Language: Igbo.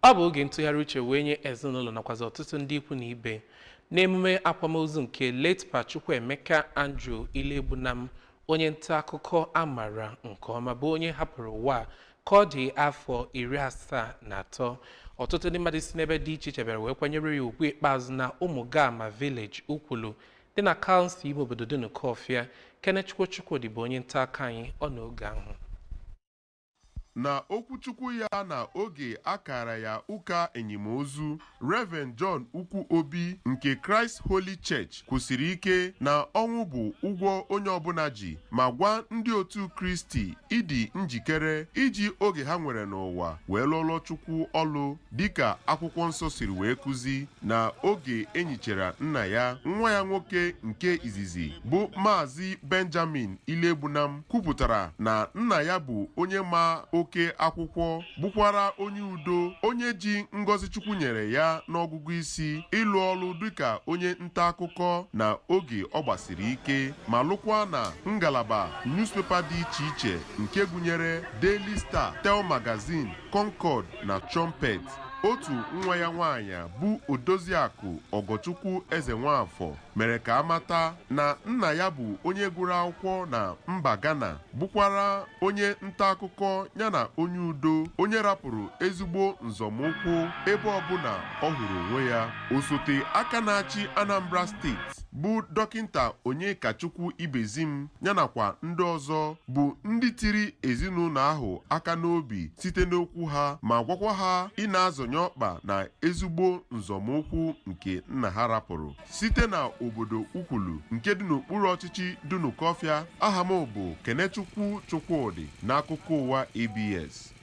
ọ bụ oge ntụgharị uche wee nye ezinụlọ nakwazi ọtụtụ ndị ikwu na ibe n'emume akwamozu nke late Pa Chukwuemeka Andrew Iloegbunam onye nta akụkọ a maara nke ọma bụ onye hapụrụ ụwa ka ọ dị afọ iri asaa na atọ ọtụtụ ndị mmadụ si n'ebe dị iche iche bịara wee kwanyere ya ugwu ikpeazụ na Ụmụgama Village Ukwulu dị na kansụl ime obodo Dunukọfịa Kenechukwu Chukwodi bụ onye nta akụkọ anyị nọ n'oge ahụ Na okwuchukwu ya na oge a kaara ya ụka enyimozu, Rev. John Ukwu Obi nke Christ Holy Church kwusiri ike na ọnwụ bụ ụgwọ onye ọbụla ji ma gwa ndị otu Kristi ịdị njikere iji oge ha nwere n'ụwa wee lụọlọ Chukwu ọlụ. dịka akwụkwọ nsọ siri wee kuzi na oge enyichara nna ya nwa ya nwoke nke izizi bụ maazị benjamin iloegbunam kwupụtara na nna ya bụ onye ma oke akwụkwọ bụkwara onye udo onye ji ngọzi chukwu nyere ya n'ọgụgụ isi ịlụ ọrụ dịka onye nta akụkọ na oge ọ gbasiri ike ma lụkwa na ngalaba newspaper dị iche iche nke gụnyere daily star tell magazine concord na Trumpet otu nwa ya nwaanyị bụ Odoziakụ Ọgọchukwu Ezenwafọ mere ka a mata na nna ya bụ onye gụrụ akwụkwọ na mba Ghana bụkwara onye nta akụkọ yana onye udo onye rapụrụ ezigbo nzọmụkwụ ebe ọbụla ọ hụrụ onwe ya osote aka na-achị Anambra steeti bụ Dọkịnta Onyekachukwu Ibezim ya nakwa ndị ọzọ bụ ndị tiri ezinụlọ ahụ aka n'obi site n'okwu ha ma gwakwa ha ịna-azọnye ọkpa na ezigbo nzọmụkwụ nke nna ha rapụrụ site na obodo Ukwulu nke dị n'okpuru ọchịchị Dunukọfịa aha m bụ Kenechukwu Chukwodi n'akụkọ ụwa ABS